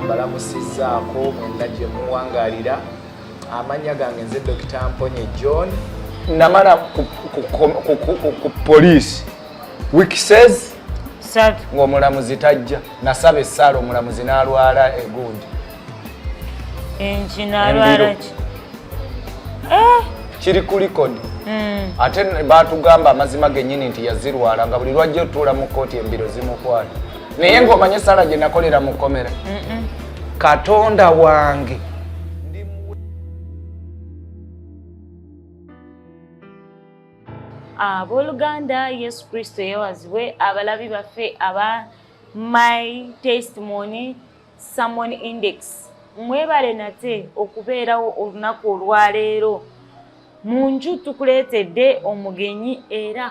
mbalamusizzaako mwenna gye muwangalira amannya gange nze dokita mponye john namala ku poliisi wikisez ng'omulamuzi tajja nasaba essaala omulamuzi n'alwala egundi enkinalwalaki eh? kiri ku likodi hmm. ate batugamba amazima genyini nti yazirwala nga buli lwajja otuula mu kooti embiro zimukwata naye ngaomanye esala gye nakolera mu komera katonda wange abooluganda yesu kristo yewazibwe abalabi baffe aba my testimony Salmon Index mwebale nate okubeerawo olunaku olwaleero mu nju tukuleetedde omugenyi era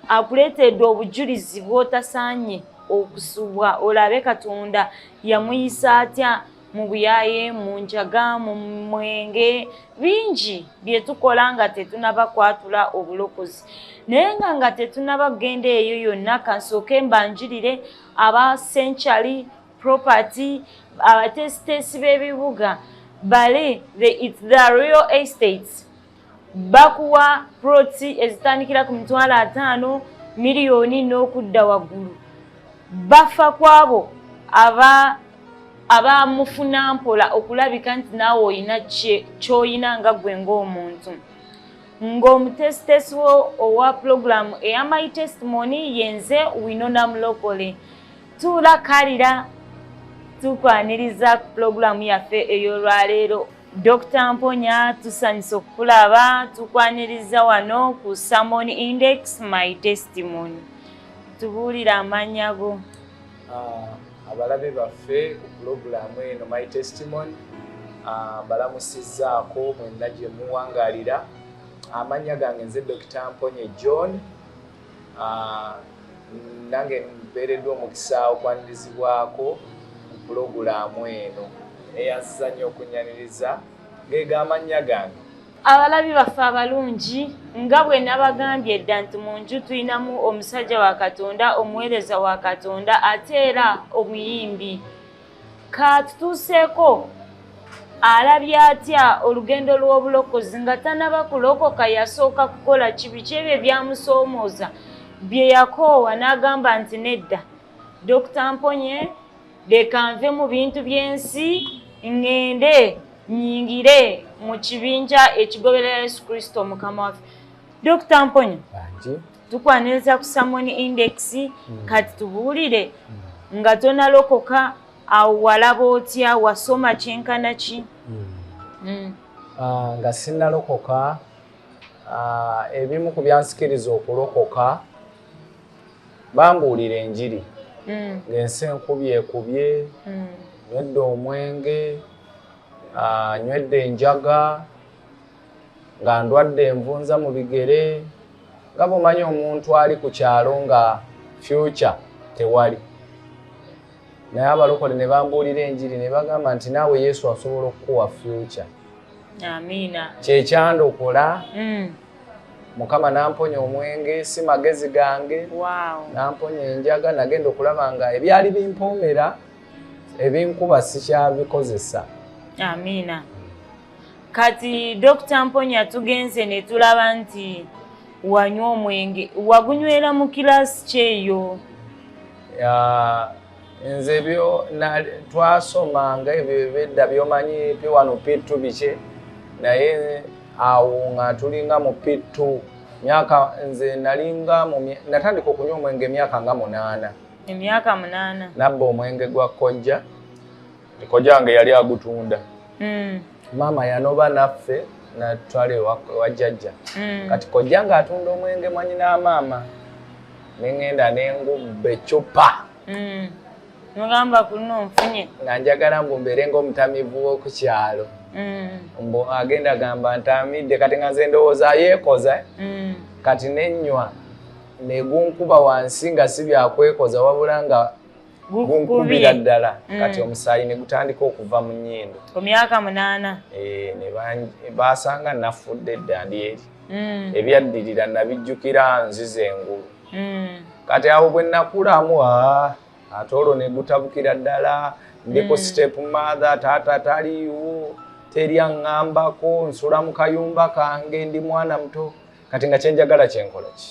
akuleetedde obujulizi bwotasaanye okusubwa olabe katonda yamuyisa atya mu buyaye mu njaga mu mwenge bingi bye tukola nga tetunaba kwatula obulokozi naye nga nga tetunaba kugenda eyo yonna kansooke mbanjulire aba senkyali property abateesiteesi b'ebibuga bali the it's the real estates bakuwa proti ezitandikira ku mitwalo ataano miliyoni n'okudda waggulu bafa kwabo aba abamufuna mpola okulabika nti naawe olina kyolina nga gwe ng'omuntu ng'omutesitesi owa pulogulaamu eya my testimony yenze winona mulokole tuula kalira tukwaniriza ku pulogulaamu yaffe ey'olwaleero dr mponya tusanyusa okukulaba tukwaniriza wano ku samon index my testimony tubuulire amannya go ah, abalabe baffe ku pulogulaamu eno my testimony ah, mbalamusizzaako mwenna gye muwangalira amannya gange nze dr mponye john nange mbeereddwa omukisa okwanirizibwako ku pulogulaamu eno eyansiza nnyo okunyaniriza ng'ego amannya gange abalabi baffe abalungi nga bwe nabagambye dda nti mu nju tulinamu omusajja wa katonda omuweereza wa katonda ate era omuyimbi kaatutuuseeko alabye atya olugendo lw'obulokozi nga tanaba kulokoka yasooka kukola kibi kyebyo ebyamusoomooza bye yakoowa n'agamba nti nedda dokita mponye leka nve mu bintu by'ensi ŋŋende nyingire mu kibinja ekigoberera yesu kristo mukama waffe dokita mponye tukwaniriza ku samon index mm. kati tubuulire mm. nga tonalokoka awo walaba otya wasoma kyenkana ki mm. mm. uh, nga sinalokoka uh, ebimu ku byansikiriza okulokoka bambuulira enjiri mm. ng'ensi enkubyekubye mm. nywedde omwenge uh, nywedde enjaga nga ndwadde envunza mu bigere nga bwomanya omuntu ali ku kyalo nga fyuca tewali naye abalokole ne bambuulira enjiri ne bagamba nti naawe yesu asobola okukuwa fyuca amiina kyekyanda okola mm. mukama namponya omwenge si magezi gange namponya enjaga nagenda okulaba nga ebyali bimpoomera ebinkuba sikyabikozesa amiina kati dokita mponya tugenze ne tulaba nti wanywa omwenge wagunywera mu kilaasi kyeyo nze byo twasomanga ebyo ebedda byomanyi piwano pittu bikye naye awo nga tulinga mu pittu myaka nze nalinga natandika okunywa omwenge emyaka nga munaana emyaka munaana nabba omwenge gwa kojja kojange yali agutunda mm. maama yanoba naffe natwala ewa jjajja mm. kati kojange atunda omwenge mwanyi n'amaama nengenda nengubba ecupa mm. nogamba kuno nfunye nga njagala mbu mbeere ngaomutamivu woku kyalo mm. mbu agenda gamba ntamidde kati nga nze ndowooza yeekoza mm. kati nenywa negunkuba wansi nga si byakwekoza wabula nga gunkubira ddala mm. kati omusaayi ne gutandika okuva mu nnyindo ku myaka munaana eh, ne baasanga nafudde dda ndi eri mm. ebyaddirira nabijjukira nziza engulu mm. kati awo bwe nakulamu ate olwo ne gutabukira ddala ndiko step mother taata taliiwo teri aŋŋambako nsula mu kayumba kange ndi mwana muto kati nga kyenjagala kyenkola ki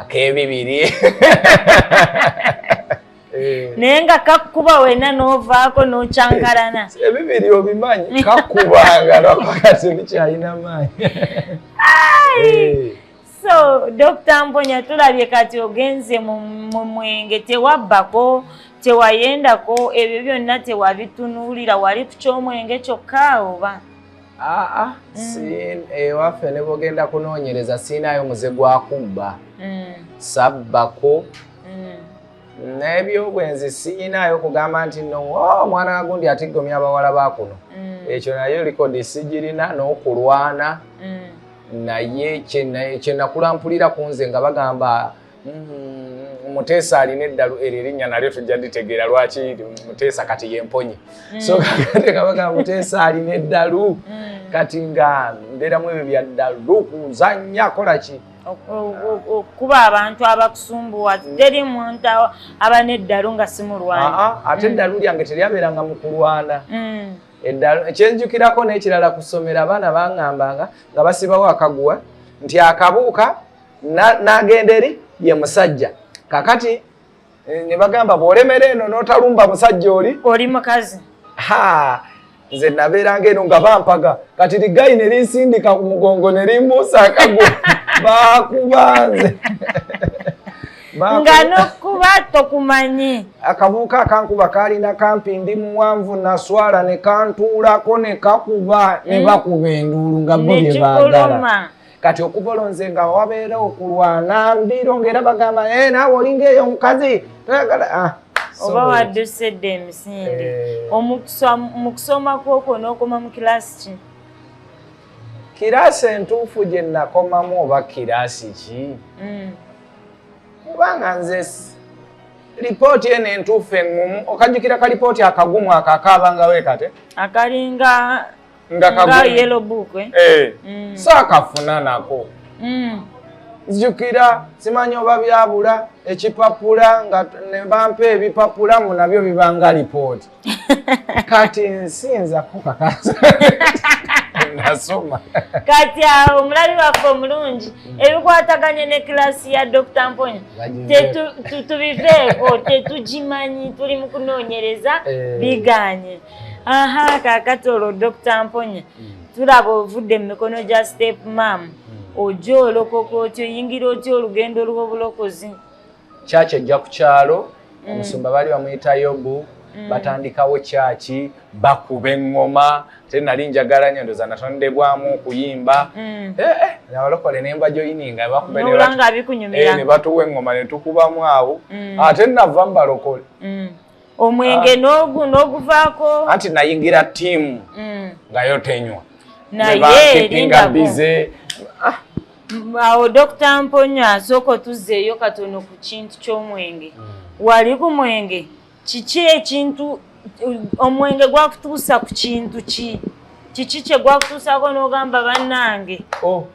akebibiri eh. naye nga kakuba wena novaako nokyankalana ebibiri obimanyi kakuba nga lwakakati bikyalina maanyi so dr mponya tulabye kati ogenze mu mwenge tewabbako tewayendako ebyo byonna tewabitunuulira wali ku kyomwenge kyokka oba aa mm. ewaffe eh, nebogenda kunoonyereza siinayo muze gwakubba mm. sabbako mm. n'ebyobwenzi siinayo kugamba nti no oh, omwana wagundi atiggomya abawala bakuno ekyo nayo likodi sigirina n'okulwana naye kyenakulampuliira ku nze nga bagamba Mm-hmm. muteesa alina eddalu eryo erinnya nalyo tujja ditegeera lwaki muteesa kati yemponye mm. so kakate kabaga muteesa alina eddalu mm. kati nga mbeeramu ebyo byaddalu kuzannya kola ki okukuba abantu abakusumbuwa teri muntu aba n'eddalu nga simulwana ah, ah, ate mm. eddalu lyange teryabeeranga mu kulwana eddalu kyenjukirako n'ekirala ku ssomero abaana bangambanga nga basibawo akaguwa nti akabuuka n'agenda eri ye musajja kakati eh, ne bagamba bw'olemera eno n'otalumba musajja oli oli mukazi ha nze nabeeranga eno nga bampaga kati ligayi ne linsindika ku mugongo ne limbuusa akago bakuba nze nga nokuba tokumanyi akabuuka akankuba kalina kampi ndi muwanvu naswala ne kantuulako ne kakuba ne mm. bakuba enduulu nga bo bye baagala kati okuva olwo nze nga wabeera okulwana mbiiro ngaera bagamba eh, naawe olinga eyo omukazi toyagala ah, oba wadduse dda emisinde eh. mu kusoma kwokwo n'okoma mu kiraasi ki kiraasi entuufu gye nakomamu oba kiraasi ki mm. kubanga nze lipooti eno entuufu eŋŋumu okajjukira ka lipooti akagumu ako akaabanga weekate akalinga nga kaguyelobukwe eh. mm. so akafuna nako mm. jukira simanyi oba byabula ekipapula nga nebampa ebipapula mu nabyo bibanga lipooti kati nsinza kukakasa nasoma kati awo ah, omulabi waffe omulungi ebikwataganye ne kilasi ya dr mponya tubiveeko tetugimanyi tuli mu kunoonyereza eh. biganye aha kakati olwo dokita mponya mm. tulaba ovudde mu mikono gya step mam mm. oja olokoka otya oyingira otya olugendo lw'obulokozi kyaki ejja ku kyalo mm. omusumba baali bamuyita yobu batandikawo kyaki bakuba eŋŋoma te nali njagala nyo ndoza natondebwamu okuyimba eh, eh, nabalokole nemba joyininga batuwa eh, eŋŋoma netukubamu awo ate nava mubalokole omwenge ah. n'oguvaako anti nayingira tiimu mm. nga yo tenywa nayebankipinga bize ah. awo dokita mponyo asooka otuzzeeyo katono ku kintu ky'omwenge mm. wali ku mwenge kiki ekintu omwenge gwakutuusa ku kintu ki kiki kye gwakutuusako n'ogamba bannange oh.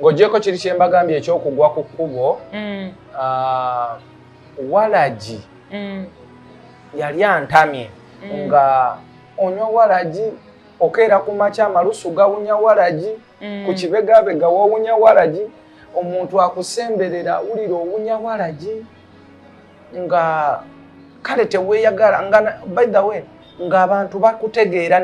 ng'ogyeko kiri kye mbagambye ekyokugwa ku kkubo mm. ah, walagi mm. yali antamye mm. nga onywa walagi okeera ku makya amalusu gawunya walagi ku kibegabega wawunya walagi omuntu akusemberera awulira owunya walagi nga kale teweyagala nga by the way ng'abantu bakutegeera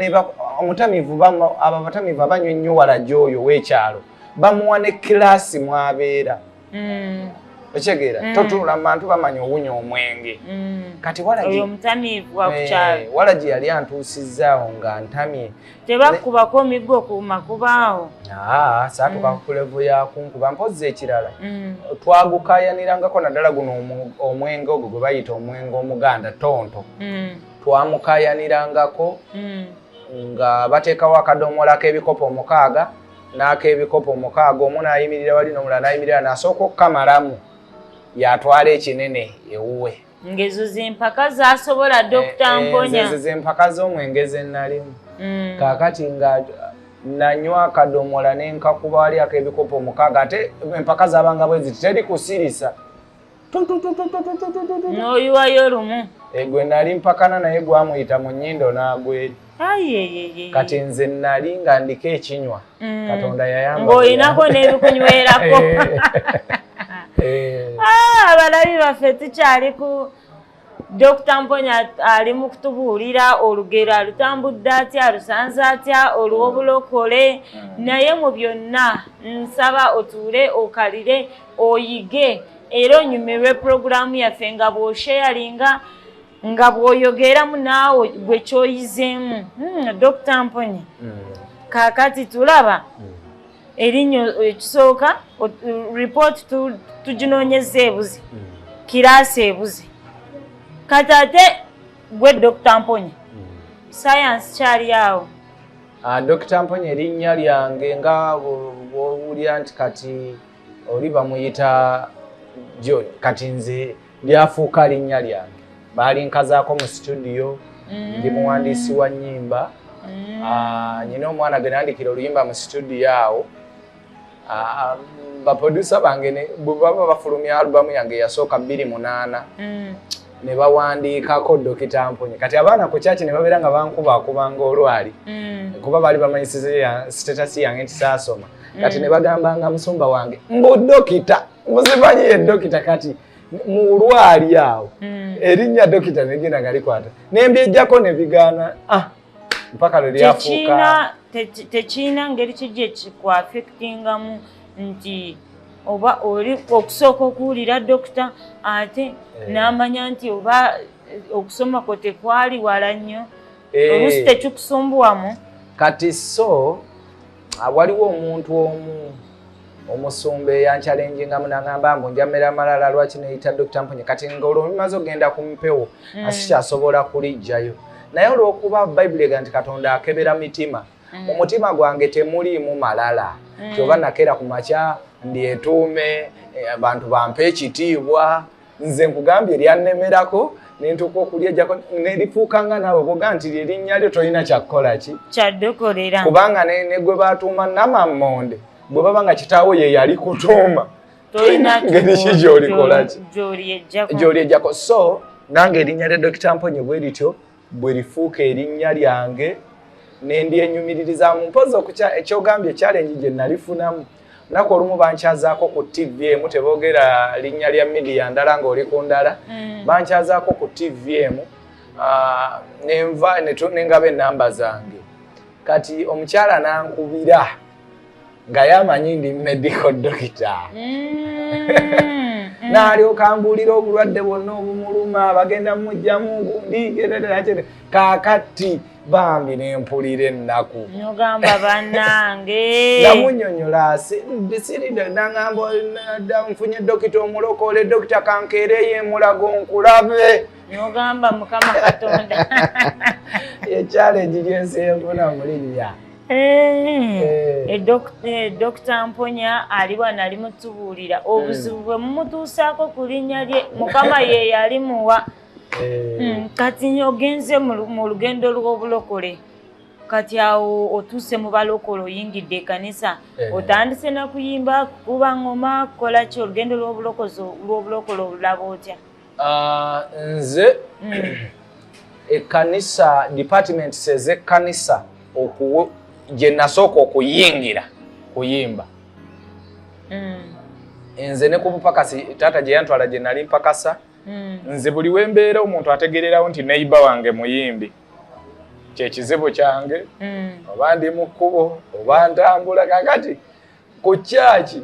omutamivu abo abatamivu abanywa ennyo walagi oyo w'ekyalo bamuwa ne kilaasi mwabeera mm. okitegeera mm. totunula mu bantu bamanya owunya omwenge mm. kati walagi eh, yali antuusizaawo nga ntamye tebakubako miggo ku makubo awo ah, saatuka mm. kulevu yakunkuba mpozzi ekirala mm. twagukayanirangako naddala guno omwenge ogwo gwe bayita omwenge omuganda tonto mm. twamukayanirangako nga bateekawo akadomola k'ebikopo omukaaga n'ak'ebikopo omukaaga omu naayimirira wali nomulala nayimirira nasooka okukamalamu yatwala ekinene ewuwe ngezo zempaka zasobola eh, dokita eh, mponya ezo zempaka z'omwenge ze nnalimu mm. kaakati nga nanywa akadomola nenkakuba wali ak'ebikopo mukaaga ate empaka zabanga bwe ziti teri kusirisa n'oyiwayo lumu egwe eh, nali mpakana naye gwamuyita mu nyindo n'agweri kati nze nali nga ndiko ekinywa mm. katonda yayambaolinako nebikunywerako eh. ah, abalabi baffe tukyali ku dokita mponya ali mu kutubuulira olugero alutambudde atya alusanze atya olwobulokole mm. naye mu byonna nsaba otuule okalire oyige era onyumirwe pulogulaamu yaffe nga bwosheyalinga nga bwoyogeeramu naawe gwe kyoyizeemu hmm, dokita mponye hmm. kakati tulaba hmm. erinnya ekisooka report tuginoonyeza ebuze kiraasi ebuze kati ate gwe dokita mponye sayansi kyali awo ah, dokita mponye erinnya lyange nga bwowulira nti kati oli bamuyita john kati nze lyafuuka linnya lyange baalinkazaako mu situdiyo mm. ndi muwandiisi wa nnyimba mm. ah, nyina omwana gwe nandikira oluyimba mu situdiyo awo ah, baprodusa bange bwebaba bafulumya alubamu yange yasooka bbiri munaana mm. ne bawandiikako dokita mponye kati abaana ku kyaki ne babeera nga bankubakubanga olwali kuba baali bamanyisiza sitatasi yange nti saasoma kati ne bagambanga musumba wange mbu dokita muzimanyi ye dokita kati mulwali awo hmm. erinnya dokita negenda nga likwata nembyejjako nebigaana ah, mpaka lwe lyafuuka tekirina ngeri kijja ekikuafectingamu nti oba oli okusooka okuwulira dokita ate eh. n'amanya nti oba eh, okusoma kwo tekwali wala nnyo eh. olusi tekikusumbuwamu kati so Ah, waliwo omuntu omu omusumba eyankyalenjingamu nagamba mbu njamera malala lwaki neyita dokita mpunye kati ngaolwo mimaze okugenda ku mpewo mm. asikyasobola kulijjayo naye olwokuba bayibuli ega nti katonda akebera mitima mm. mu mutima gwange temuliimu malala mm. kyoba nakeera ku makya ndyetuume eh, abantu bampe ekitiibwa nze nkugambye lyannemerako nentuuka okulya jako nelifuuka nga naawe boga nti lyerinnya lyo tolina kyakukola ki kyadokolera kubanga negwe batuuma namammonde bwe baba nga kitaawo ye yali kutuuma ngeri ki gyolikolaki gyoli ejjako so nange erinnya lya dokita mponye bwe lityo bwe lifuuka erinnya lyange ne ndyenyumiririzaamu mpozi okukya ekyogambye ekyalengi gye nalifunamu naku olumu bankyazaako ku ttivi emu teboogera linnya lya midiya ndala ng'oli ku ndala mm. bankyazaako ku ttivi emu ah, nenva nengaba ennamba zange kati omukyala nankubira nga yamanyi ndi medical dokita nalyoka mm, mm. mbuulira obulwadde bwonna obumuluma bagenda mujjamu gundi kakati bambi nempulira ennaku nogamba banange namunyonyola siridanangamba nfunye dokita omulokole dokita kankeereyo emulago nkulabe nogamba mukama katonda ekyalenji gyensi enfuna mulinnya Eh, eh, eh, dokita mponya ali wano ali mutubuulira obuzibu bwe mumutuusaako ku linnya lye mukama ye yali muwa hmm, kati ogenze mu lugendo lw'obulokole kati awo otuuse mu balokole oyingidde ekanisa otandise nakuyimba kukuba ngoma kukola ki olugendo lw'obulokole olulaba otya Ah, nze mm. ekkanisa departments ez'ekkanisa gye nasooka okuyingira kuyimba mm. nze ne ku bupakasi taata gye yantwala gye nali mpakasa mm. nze buli wembeera omuntu ategererawo nti neiba wange muyimbi kyekizibu kyange oba ndi mu kkubo oba ntambula kakati ku kyaki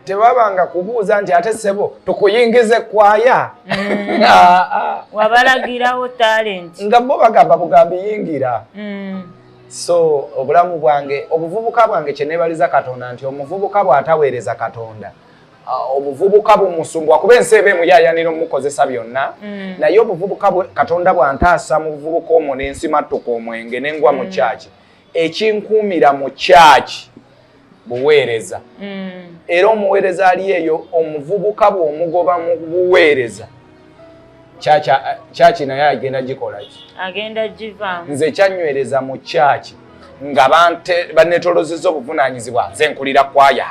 tebabanga kubuuza nti ate sebo tukuyingize kwaya mm. ah, ah. wabalagirawo talent nga bo bagamba bugambi yingira mm. so obulamu bwange obuvubuka bwange kyenebaliza katonda nti omuvubuka bwataweereza katonda ah, obuvubuka bumusumbwa kuba ensi eba emuyayanira omukozesa byonna mm. naye obuvubuka katonda bwantaasa mu buvubuka omwo nensimattuka omwenge nengwa mu kyaki ekinkuumira mu kyaki buweereza mm. era omuweereza ali eyo omuvubuka bw'omugoba mu buweereza kyaki naye agenda gikolaki agenda givamu nze kyanywereza mu kyaki nga banetolozeza obuvunaanyizibwa nze nkulira kwaya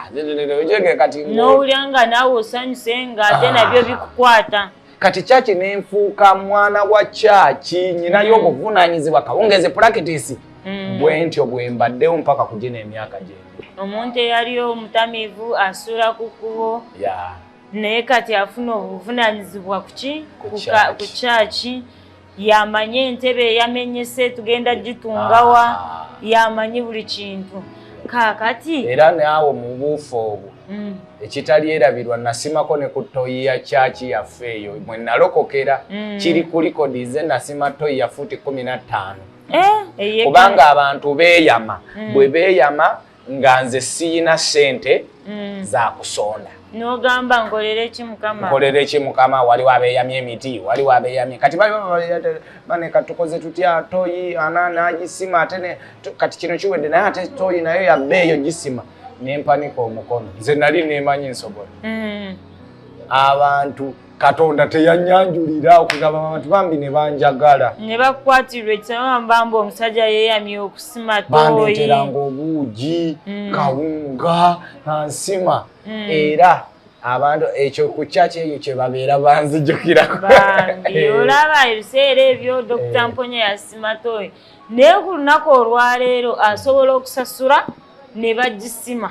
kati nowulira nga naawe osanyuse nga ate nabyo bikukwata kati kyaki nenfuuka mwana wa kyaki nyinayo mm. obuvunanyizibwa kawungezi pulakitisi mm. bwentyo bwembaddewo mpaka kugina emyaka gyendi omuntu eyali omutamivu asuula ku kkubo naye kati afuna obuvunanyizibwa kuki ku kyaki yamanyi entebe eyamenyese tugenda gitungawa ah. yamanyi buli kintu kakati era naawe mubuufu obwo mm. ekitali erabirwa nasimako ne ku toyi ya kyaki yaffe eyo mwe nalokokera mm. kiri ku likodi ze nasima toyi ya fuuti kumi na ttaano eh, kubanga abantu beeyama mm. bwe beeyama nga nze siyina sente mm. zakusonda nogamba nkolere ki mukama nkolere ki mukama waliwo abeyamya emiti waliwo abeyamya kati bane katukoze tutya toyi ana nagisima ate kati kino kiwedde naye ate toyi nayo yabeeyo gisima nempanika omukono nze nali nemanyi nsobola mm. abantu katonda teyanyanjulira okugamba abantu bambi ne banjagala ne bakwatirwa ekisabambamba omusajja yeyamye okusima toyibandeteranga obuugi mm. kawunga nansima mm. era abantu ekyo ku kyaki eyo kyebabeera banzijukirako eh. olaba ebiseera ebyo dokita eh. mponya yasima toyi naye ku lunaku olwaleero asobola okusasula ne bagisima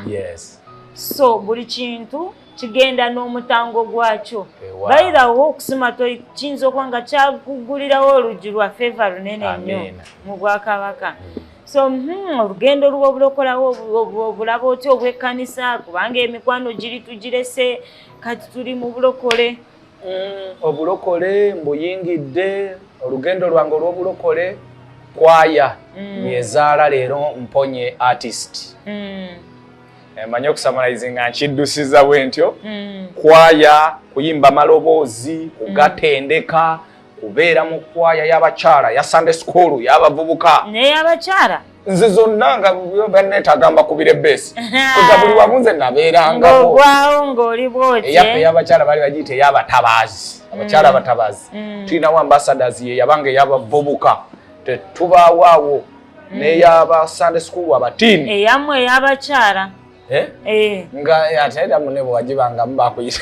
so buli kintu kigenda n'omutango gwakyo bayirawo okusima kiyinza okuba nga kyaguggulirawo oluggi lwa feva lunene nnyo mu bwakabaka hmm. so hmm, olugendo luba obulokolawo obulaba otya obwekkanisa kubanga emikwano giri tugirese kati tuli mu bulokole hmm, obulokole mbuyingidde olugendo lwange olw'obulokole kwaya yezaala leero mponye artist Eh, manyi okusamalaizi nga nkiddusiza bwe ntyo mm. kwaya kuyimba maloboozi kugatendeka mm. kubeera mu kwaya y'abakyala ya sande sukulu y'abavubuka neyabakyala nze zonna nga banetagamba kubira ebeesi kuza buli wamu nze nabeerangaogwawo ngaoli bwotyeyaffe y'abakyala bali bagiyita ey'abatabaazi mm. abakyala abatabaazi tulinawo ambasadasi ye yabanga ey'abavubuka tetubawaawo mm. neyaba sunday school abatiini eyamwe eyabakyala eh? eh. nga eh, ate era mune bwewagibangamu bakuyita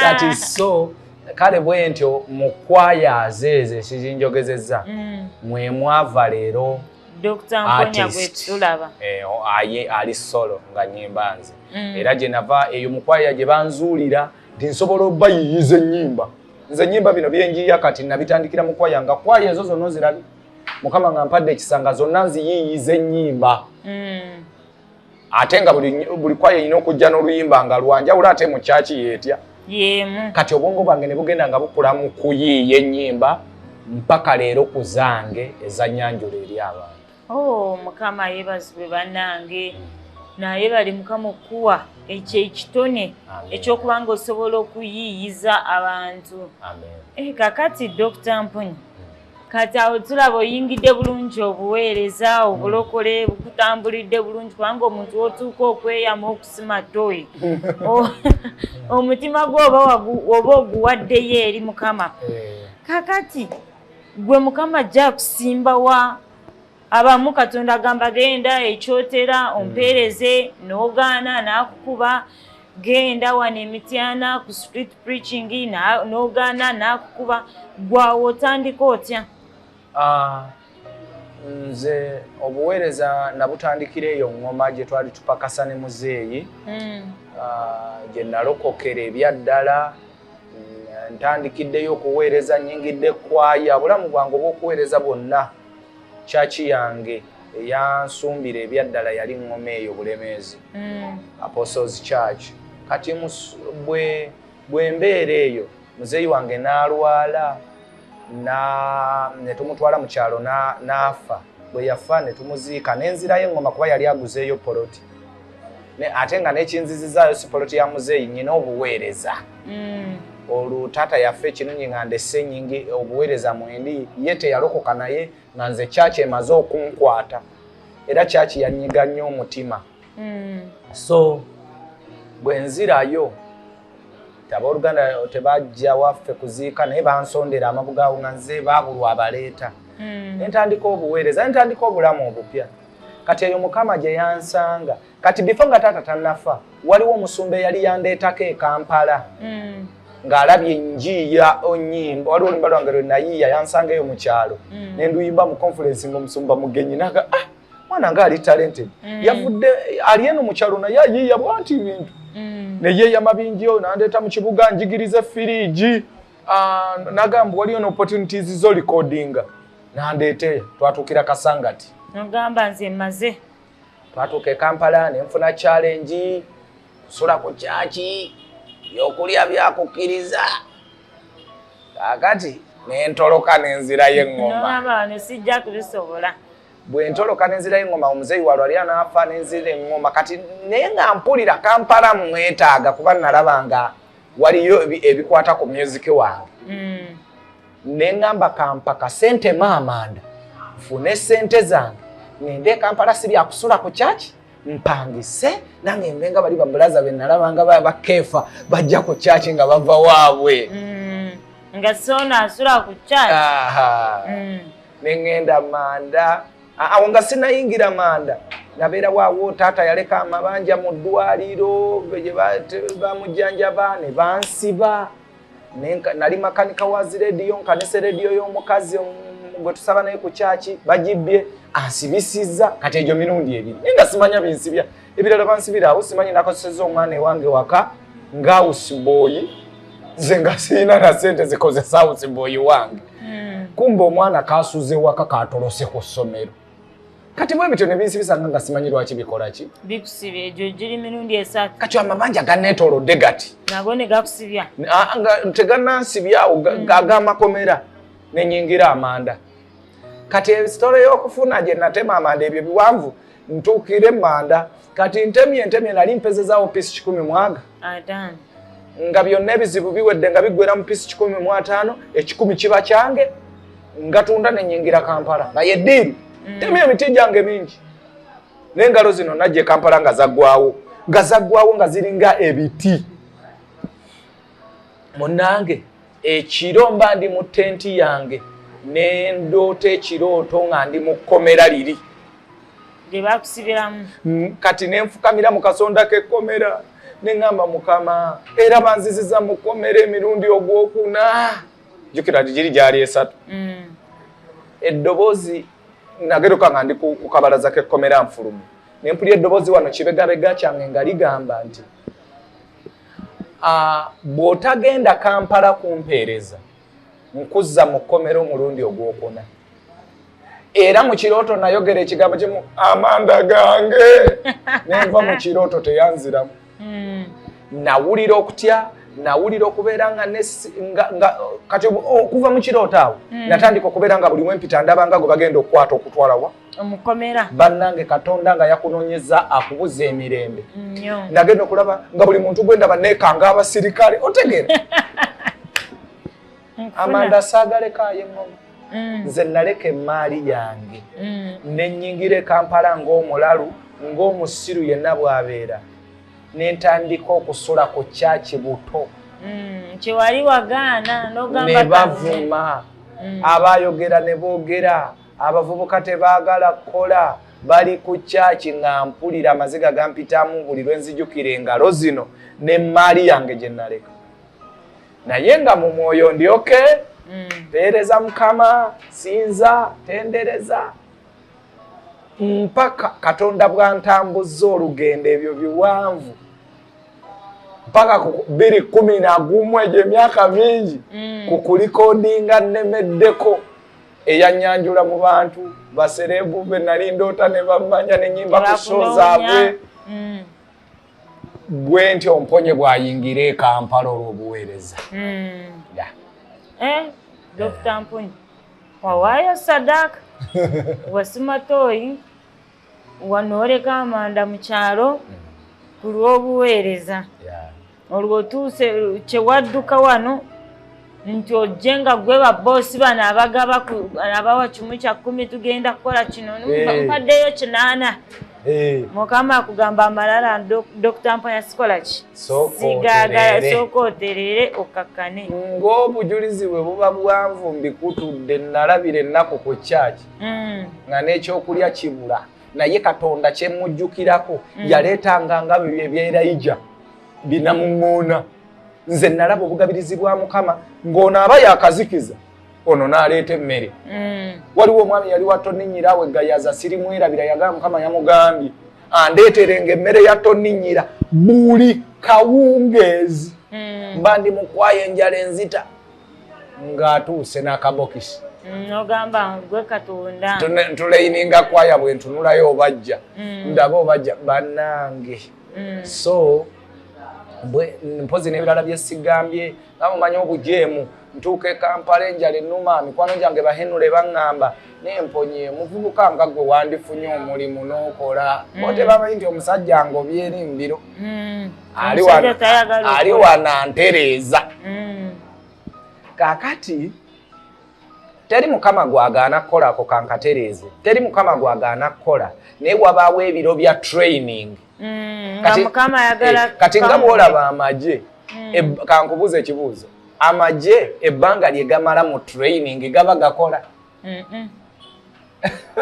that is so kale bwentyo mukwayaaze ezo ekizinjogezeza mm. mwemwava leero aye ali solo nga nyimba nze mm. era gyenava eyo mukwaya gye banzuulira nti nsobola obayiyiza ennyimba nze nyimba bino byenjiya kati nabitandikira mukwaya nga kwaya ezo zonna ozirabi mukama nga mpadde ekisanga zonna nziyiiyiza ennyimba mm. ate nga buli kwayo erina okujja n'oluyimba nga lwanjawulo ate mu kyaki yeetya kati obwongo bwange ne bugenda nga bukula mu kuyiiya ennyimba mpaka leero ku zange ezanyanjula eri abantu oh, mukama yebazibwe banange naye bali mukama okuwa ekyo ekitone ekyokuba nga osobola okuyiiyiza abantu eh, kakati dr mpuni kati awo tulaba oyingidde bulungi obuweereza obulokole bukutambulidde bulungi kubanga omuntu wotuuka okweyama okusima toyi omutima gwe oba oguwaddeyo eri mukama eh. kakati gwe mukama ajja kusimbawa abamu katonda agamba genda ekyotera hmm. ompeereze nogaana nakukuba genda wano emityana ku street preaching nogaana nakukuba gwawo otandika otya ah, nze obuweereza nabutandikira eyo ngoma gye twali tupakasa ne muzeeyi hmm. ah, gye nalokokera ebyaddala ntandikiddeyo okuweereza nyingidde kwaya bulamu bwange obwokuweereza bwonna Kyaki yange eyansumbira ebyaddala yali ŋŋoma eyo Bulemeezi mm. Apostles Church. Kati bwe bwe mbeera eyo muzeeyi wange n'alwala ne tumutwala mu kyalo n'afa. Bwe yafa ne tumuziika ne nzirayo eŋŋoma kuba yali aguzeeyo poloti. ate nga nekinzizizaayo sipoloti ya muzeeyi nyina obuweereza mm. olwo taata yaffe ekirungi nga ndese nyingi obuweereza mwendi ye teyalokoka naye nga nze kyaki emaze okunkwata era kyaki yanyiga nnyo omutima mm. so bwenzirayo abooluganda tebajja waffe kuziika naye bansondera amabugawo nga nze babulwa abaleeta mm. nentandika obuweereza nentandika obulamu obupya kati eyo mukama gye yansanga kati bifo nga taata tanafa waliwo omusumba eyali yandeetako ekampala mm. ng'alabye njiiya onyimba waliwo olumba lwange lwe nayiiya yansanga eyo mu kyalo mm. ne nduyimba mu conference ng'omusumba mugenyi naga ah mwana nga ali talented mm. yavudde ali eno mu kyalo naye ayiiya bwati bintu mm. ne yeeyama bingi oyo nandeeta mu kibuga njigirize firiigi Ah, nagamba waliyo no opportunities zo recordinga nandeeteyo twatuukira kasangati nogamba nze maze twatuuka ekampala nenfuna challenge kusula ku kyaki byokulya byakukkiriza kakati nentoloka nenzirayo eŋomaabano sijja kubisobola bwentoloka nenzirayo eŋoma omuzeeyi walw ali anaafa nenzira eŋoma kati naye nga mpulira kampala mwetaaga kuba nalabanga waliyo ebikwata ku music wange mm. nengamba kampa kasente maamanda nfune sente zange ngende ekampala si byakusula ku kyaki mpangise nange mbe nga bali babulaza benalaba nga bakeefa bajja ku kyaki nga bava waabwe mm. nga sona asula ku kyaki mm. nengenda manda awo nga sinayingira manda nabeera waawo taata yaleka amabanja mu ddwaliro bamujjanjaba ne bansiba nali makanika wa zirediyo nkanisa rediyo y'omukazi gwe tusaba naye ku kyaki bagibbye ansibisizza kati egyo mirundi ebiri naye nga simanya binsibya ebirala bansibiraawo simanyi nakoseseza omwana ewange waka nga usibooyi nze nga sirina na sente zikozesa usibooyi wange hmm. kumba omwana kasuze waka katolose ku ssomero kati bwe bityo nebinsibisanga nga simanyi lwaki bikolaki bikusibya egyo giri mirundi esatu kati amabanja ganetolodde gati nago negakusibya teganansibyawo hmm. agamakomera nenyingira amanda kati esitole y'okufuna gye natema amanda ebyo biwanvu ntuukire manda kati ntemye ntemye nali mpezezaawo piisi kikumi mwaga nga byonna ebizibu biwedde nga biggwera mu piisi kikumi mu ataano ekikumi kiba kyange ngatunda nenyingira kampala nga yeddiiru mm. temye emiti gyange mingi n'engalo zino najja ekampala nga zaggwawo nga zaggwawo nga ziringa ebiti munange ekiro mba ndi mu tenti yange nendoota ekirooto nga ndi mu kkomera liri lyebakusibiramu mm, kati nenfukamira mu kasonda kekkomera neŋamba mukama era banziziza mu kkomera emirundi ogwokuna jukira giri gyali esatu mm. eddoboozi nageruka nga ndi ku kabalaza kekkomera nfulumu nempulira eddoboozi wano kibegabega kyange nga ligamba nti Ah, bw'otagenda kampala kumpeereza nkuzza mu kkomera omulundi ogwokuna era mu kirooto nayogera ekigambo kimu amanda gange nenva mu kirooto teyanziramu hmm. nawulira okutya nawulira okubeera nga kati okuva mu kirooto awo hmm. natandika okubeera nga buli wempita ndabanga gwe bagenda okukwata okutwalawa omukomera bannange katonda nga yakunonyeza akubuza emirembe nagenda okulaba nga buli muntu gwendaba nekanga abasirikale otegere amanda saagalekayo eŋoma mm. nze naleka emaali yange mm. nenyingira ekampala ngaomulalu ngaomusiru yenna bwabeera nentandika okusula ku kyaki buto mm, kyewali wagaana nogamba nebavuma abayogera nebogera abavubuka tebaagala kukola bali ku kyaki nga mpulira amaziga gampitamu buli lwe nzijukira engalo zino n'emmaali yange gye naleka naye nga mu mwoyo ndyoke mm. peereza mukama sinza tendereza mpaka katonda bwantambuzza olugendo ebyo biwanvu mpaka biri kumi na gumu egyo emyaka mingi mm. ku kulikodinga nnemeddeko eyanyanjula mu bantu baserebu be nali ndoota ne bammanya ne nyimba ku so zaabwe mm. gwe nti omponye bwayingira e kampala olw'obuweereza mm. eh, dokita mponye wawaayo sadaaka wasimatoyi wano oleka amanda mu kyalo ku lw'obuweereza olwo otuuse kyewadduka wano nti ojje nga gwe baboosi bano abagaba abawa kimu kya kkumi tugenda kukola kino eh. mpaddeyo kinaana eh. mukama akugamba amalala dokita mpaya sikola ki sigagala sooka oterere okakkane ng'obujulizi bwe buba bwanvu mbikutudde nalabira ennaku ku kyaki mm. nga n'ekyokulya kibula naye katonda kyemujjukirako mm. yaleetanga nga byo ebyerayija binamuŋoona nze nalaba obugabirizi bwa mukama ng'ono aba yakazikiza ono n'aleeta emmere mm. waliwo omwami yali watoninyira awe gayaza sirimwerabira yagala mukama yamugambye andeeterenga emmere ya toninyira buli kawungeezi mm. mba ndi mukwayo enjala enzita ng'atuuse n'akabokisi mm, ogamba gwe katonda tuleyininga kwaya bwe ntunulayo obajja mm. ndaba obajja banange mm. so mpozi n'ebirala byesigambye namumanyi obujeemu ntuuka ekampala enjala enuma mikwano gyange bahenula ebaŋŋamba nemponye muvubuka nga gwe wandifunye omulimu n'okola otebamanyi nti omusajja ngobyeeri mbiro ali wana ntereeza mm. kakati teri mukama gwagaana kukola ako kankatereeze teri mukama gwagaana kukola naye wabaawo ebiro bya training mm, eh, kati nga bwolaba amagye mm. e, kankubuuza ekibuuzo amagye ebbanga lye gamala mu training gaba gakola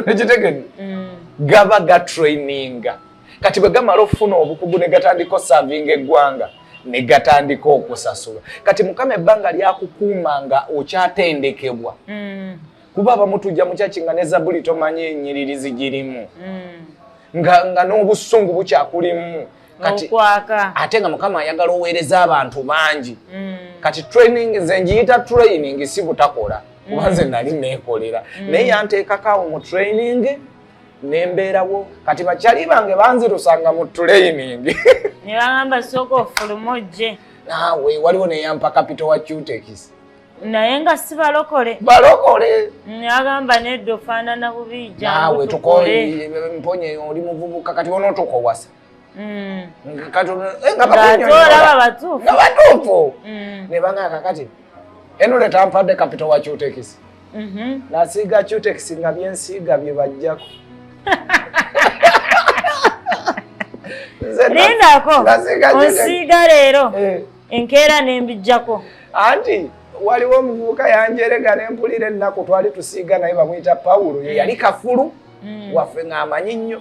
ekitegedde mm. gaba gatraininga kati bwe gamala okufuna obukugu ne gatandika osavinga eggwanga ne gatandika okusasula kati mukama ebbanga lyakukuuma nga okyatendekebwa mm. kuba abamu tujja mukyaki nga ne zabuli tomanyi enyiriri zigirimu mm. nga n'obusungu bukyakulimu kati ate nga mukama ayagala oweereza abantu bangi mm. kati training nze njiyita training si butakola mm. kuba nze nali neekolera mm. naye yanteekakaawo mu training nembeerawo kati bakyali bange banzirusanga mu training nebagamba sooka ofulumu ojje naawe waliwo neyampa kapito wa cutekisi naye nga si balokole balokole agamba nedda ofaanana bubiija naawe tukoye mponye oli muvubuka kati onotukowasa batuufu nebanga kakati eno leta mpadde kapito wa cutekisi mhm. nasiiga cutekisi nga byensiiga byebajjako lindako onsiiga leero eh. enkeera nembijjako anti waliwo omuvubuka yanjerega nempulira ennaku twali tusiiga naye bamwita pawulo yeyali kafulu mm. waffe ng'amanyi nnyo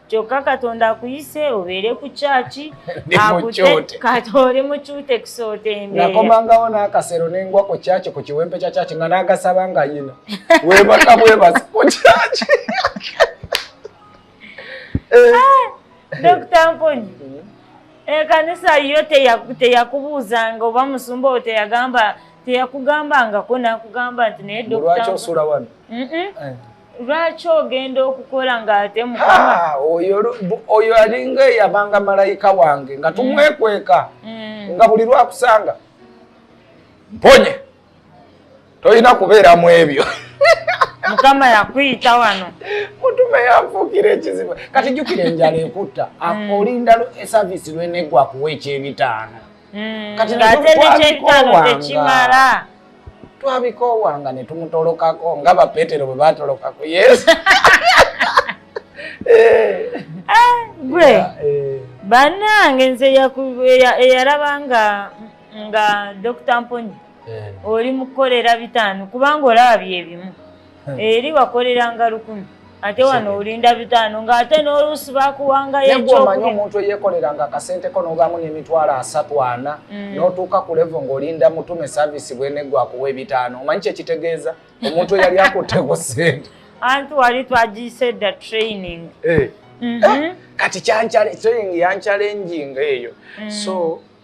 kyokka katonda akuyise obeere ku kyaki oli mukyute kusoota embeerakomangawo n'akasero nengwa ku kyaki ku kiwempe kya kyaki nga n'agasaba nga yino webaka bwebasa ku kyaki eh. ah, dokita mponyi mm-hmm. ekanisa eh, yo teyakubuuzanga oba musumba owo teyagamba teyakugambangako nakugamba nti naye dokita lwaki osula wano lwaki ogenda okukola ng'ate oyo alinga eyabanga malayika wange nga mm. tumwekweka mm. nga buli lwakusanga mponye tolina kubeera mu ebyo mukama yakuyita wano mutume yanfuukira ekizibu kati jukira enjala ekutta mm. olinda esaviisi lwenegwa kuwa ekyebitaano mm, kati twabikoowanga twabikoowanga ne tumutolokako nga bapeetero bwe baatolokako yesu eh. ah, gwe eh. bannange nze eyalaba nga nga dokita mponyi eh. oli mukukolera bitaano kubanga olaba byebimu hmm. eri wakoleranga lukumi ate wano olinda bitaano ng'ate n'oluusi bakuwangayo ekyomanyi omuntu eyekoleranga akasente ko n'obaamu n'emitwalo asatu ana mm. n'otuuka ku levo ng'olinda mutume saavisi bwenegwa akuwa ebitaano omanyi kyekitegeeza omuntu eyali akutte ku sente anti wali twagiyise dda training eh. mhm. eh, kati kyankyale training yankyalenjinga eyo mm. so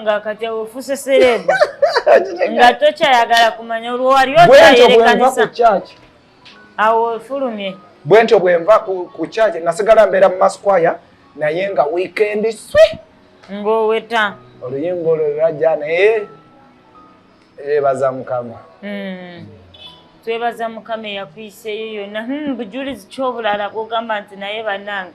nga kati ofuse serebu nga tokyayagala kumanya olwo wali otayerekanisa awo ofulumye bwe ntyo bwe nva ku kyaki nasigala mbeera mu masquaya naye nga wiikendi swi ng'oweta oluyimba olwo lwajja naye ebaza mukama hmm. twebaza mukama eyakuyiseeyo yonna hmm, bujulizi kyobulala bwogamba nti naye banange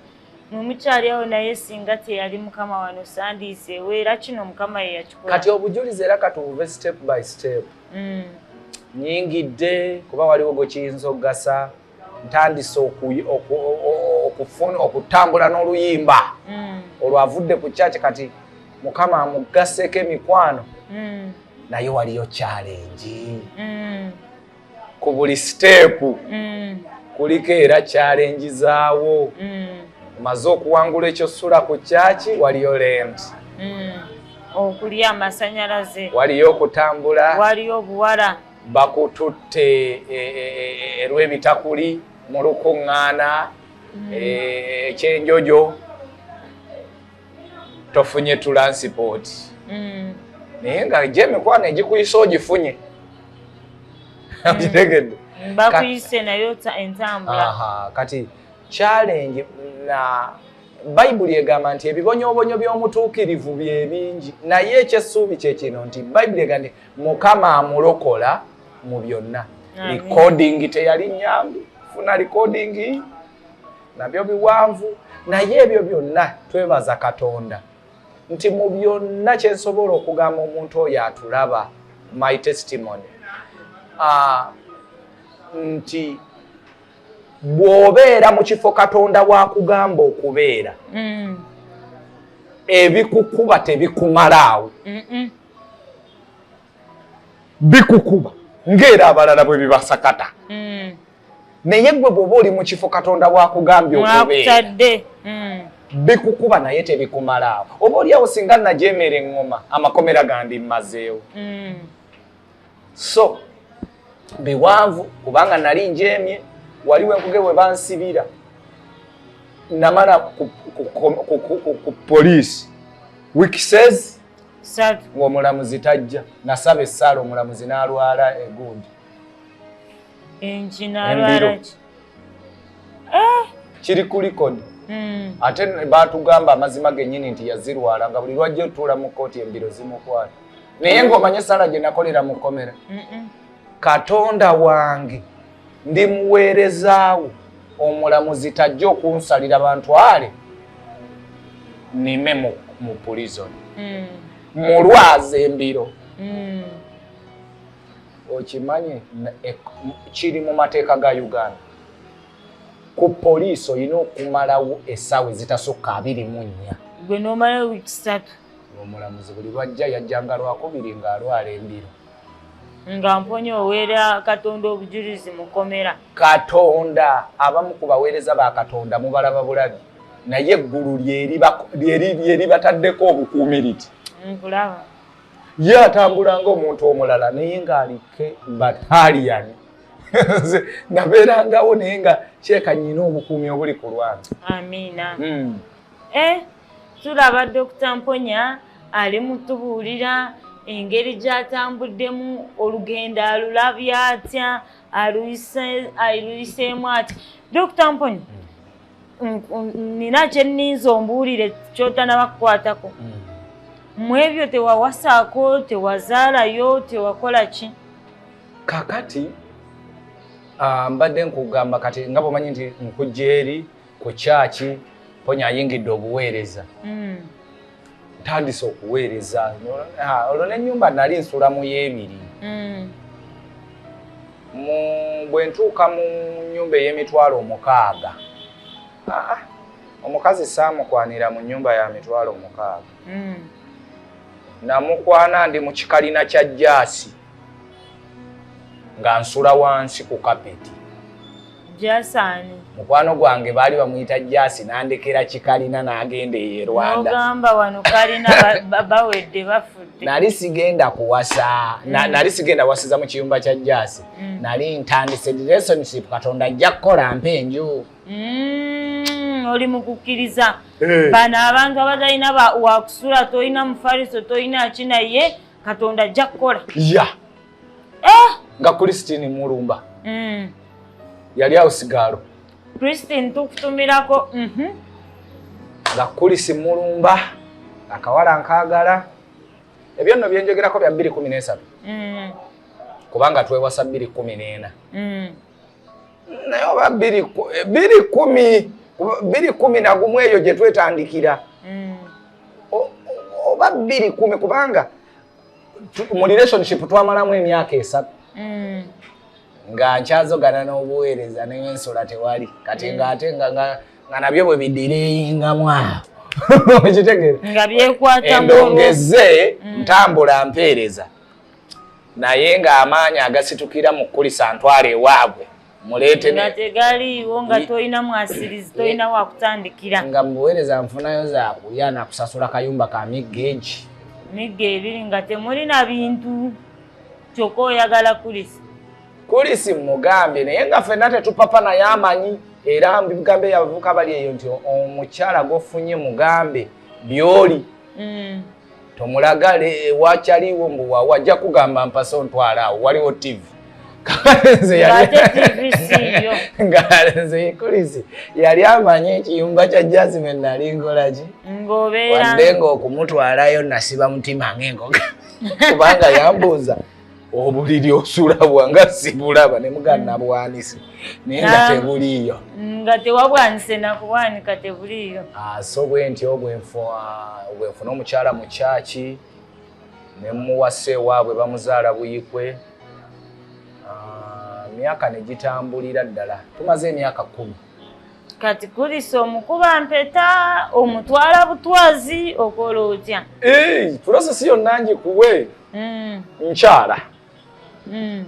mwe mukyali awo naye singa teyali mukama wano sandiiseewo era kino mukama ye yakikola kati obujulizi era katubuve step by step mm. nyingidde kuba waliwo gwe kiyinza okugasa ntandise okufuna okutambula n'oluyimba mm. olwavudde ku kyaki kati mukama amugaseko emikwano mm. naye waliyo kyalengi ku buli siteepu mm. kuliko era kyalenjizaawo mm. maze okuwangula ekyo sula ku kyaki waliyo lent mm. okulya amasanyalaze waliyo okutambula waliyo obuwala bakututte erwebitakuli e, e, e, mu lukuŋŋaana ekyenjojo tofunye tulansipooti mm. naye nga gye emikwano egikuyisa ogifunye mm. okitegedde bakuyise nayo entambula kati challenge na bayibuli egamba nti ebibonyoobonyo by'omutuukirivu bye bingi naye ekyessuubi kye kino nti bayibuli egamba nti mukama amulokola mu byonna likodingi teyali nyangu funa likodingi nabyo biwanvu naye ebyo byonna twebaza katonda nti mu byonna kyensobola okugamba omuntu oyo atulaba my testimony uh, nti bw'obeera mu kifo katonda wakugamba okubeera mm. ebikukuba tebikumalaawo mm -mm. bikukuba ng'era abalala bwe bibasakata hmm. naye gwe bw'oba oli mu kifo katonda wakugambye okubeera hmm. bikukuba naye tebikumalaawo oba oliawo singa najeemera eŋŋoma amakomera gandi mmazeewo hmm. so biwanvu kubanga nali njeemye wali wenkuge we bansibira namala ku poliisi wikisezi ng'omulamuzi tajja nasaba essaala omulamuzi n'alwala egundi embiro eh! kiri ku likodi hmm. ate baatugamba amazima gennyini nti yazirwala nga buli lwajja otuula mu kkooti embiro zimukwata naye ng'omanye essaala gye nakolera mu kkomera katonda wange ndi muweerezaawo omulamuzi tajja okunsalira bantwale nime mu pulizon hmm. mulwaza embiro hmm. okimanyi e, kiri mu mateeka ga uganda ku poliisi olina okumalawo esaawa ezitasukka abiri mu nnya gwe nomalawo wiiki satu omulamuzi buli lwajja yajjanga lwakubiri ng'alwala embiro nga mponya owera katonda obujulizi mukomera katonda abamu ku baweereza ba katonda mubalaba bulabi naye eggulu lyeribataddeko obukuumiriti nkulaba ye atambula ngaomuntu omulala naye ng'alikke bataliyani nabeerangawo naye nga kyekanyina obukuumi obuli ku lwange amiina hmm. eh, tulaba dokita mponya ali mutubuulira engeri gyatambuddemu olugendo alulabye atya aluyiseemu atya dokita mponya nina kyeninza ombuulire kyotanaba kukwatako mm. mu ebyo tewawasaako tewazaalayo tewakola ki kakati ah, mbadde nkugamba kati nga bwomanyi nti nkujja eri ku kyaki ponya ayingidde obuweereza hmm. ntandise okuweereza olwo n'ennyumba nali nsula mu y'ebiri hmm. bwe ntuuka mu nnyumba ey'emitwalo omukaaga ah, omukazi saamukwanira mu nnyumba ya mitwalo omukaaga hmm. namukwana ndi mu kikalina kya jaasi nga nsula wansi ku kapeti jasaani mukwano gwange baali bamuyita jasi nandekera kikalina nagenda eyo erwanda ogamba wano kalina bawedde bafudde nali sigenda kuwasa mm. nali sigenda wasiza mu kiyumba kya jasi mm. nali ntandise relationship katonda ajja kukola mpa enju mm, oli mukukkiriza eh. bano abantu abatalina wakusula tolina mufariso tolina ki naye katonda ajja kukola ya eh! nga christine mulumba mm. yali awo sigaalo christine tukutumirako mhm. nga kulisi mulumba akawala nkagala ebyo nno byenjogerako bya bbiri kumi n'esatu mm. kubanga twewasa bbiri kumi n'ena mm. naye oba biri kumi biri kumi nagumu eyo gye twetandikira mm. oba biri kumi kubanga mu relationship twamalamu emyaka esatu mm. nga nkyazogana n'obuweereza naye ensula tewali kati mm. ngaate nga nabyo bwe bidireyingamu awo okitegere nga byekwata endongeze ntambula mpeereza naye ng'amaanyi agasitukira mu kukulisa ntwala ewaabwe muleetenga tegaliiwo nga tolina mwasirizi tolina wakutandikira nga mubuweereza nfunayo zakulya nakusasula kayumba ka migga egi migga ebiri nga temulina bintu kyokka oyagala kulisi kulisi mugambye naye nga fenna tetupapa naye amanyi era mbigambe yabavuka bali eyo nti omukyala gofunye mugambe byoli mm. tomulagale ewacaliwo mbu wawa ajja kugamba mpasa ontwala awo waliwo tv nze yali amanyi ekiyumba kya jasmine nali nkolaki wadde ngaokumutwalayo nasiba mutima ngaengoga kubanga yambuuza obuliri osula bwanga sibulaba ne mugana nabwanise naye nga tebuliiyo nga tewabwanise nakubwanika tebuliiyo ah, so bwentyo bwenfuna omukyala mu kyaki ne muwasa ewaabwe bamuzaala buyikwe ah, myaka ne gitambulira ddala tumaze emyaka kkumi kati kulisa omukuba mpeta omutwala butwazi okola otya tulasa si yonna ngikuwe hmm. nkyala hmm.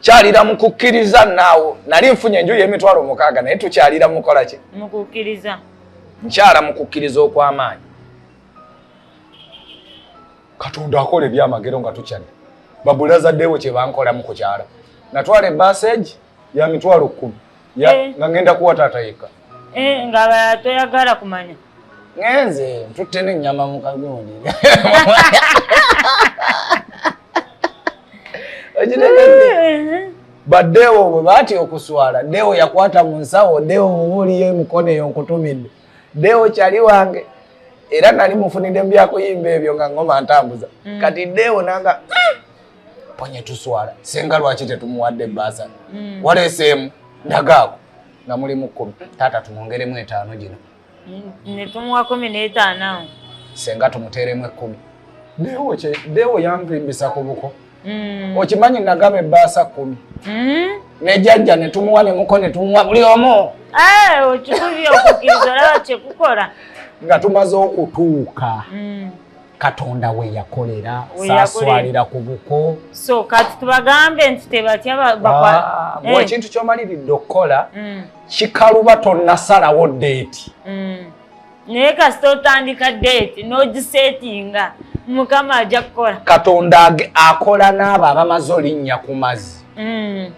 kyalira mu kukkiriza naawo nali nfunye enju y'emitwalo mukaaga naye tukyalira mukola ki mukukkiriza nkyala mu kukkiriza okw'amaanyi katonda akola ebyamagero nga tukyadde babulazadewo kyebankolamu kukyala natwala ebaseji ya mitwalo kkumi eh. nga ngenda kuwa taata yekka eh, nga toyagala kumanya ngenze ntutte nenyama mukagundi eh. badewo bwe baati okuswala dewo yakwata mu nsawo dewo mubuuliyo emikono eyo nkutumidde dewo kyali wange era nali mufunidde mu byakuyimba ebyo nga ngoma ntambuza mm. kati dewo nanga ponye tuswala senga lwaki tetumuwadde baasale mm. waleeseemu ndagaako nga muli mu kkumi taata tumwongeremu etaano gino mm, ne tumuwa kumi n'etaano senga tumuteeremu ekkumi deewo yampimbisa ku buko mm. okimanyi nagaba ebbaasa kkumi nejajja netumuwa nemuko netumuwa buli omu eh, okikubye okukiriza olaba kyekukola nga tumaze okutuuka mm. katonda we yakolera saswalira ku buko so kati tubagambe nti tebatya ah, eh. ekintu kyomaliridde okukola mm. kikaluba tonnasalawo deeti mm. naye kasita otandika deeti nogisetinga mukama ajja kukola katonda akola n'abo abamaze olinnya ku mazzi mm.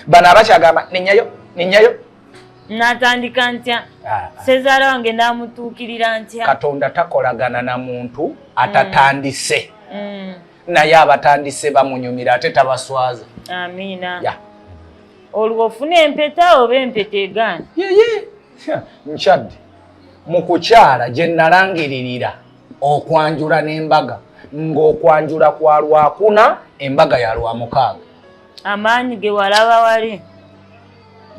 bano abakyagamba nenyayo nenyayo natandika ntya ah. sezaala wange namutuukirira ntya katonda takolagana na muntu atatandise mm. Mm. naye abatandise bamunyumira ate tabaswaza amiina yeah. olwo ofuna empeta oba empeta egaana yeye nkyadde mu kukyala gye nalangiririra okwanjula n'embaga ng'okwanjula kwa lwakuna embaga ya lwamukaaga amaanyi ge walaba wali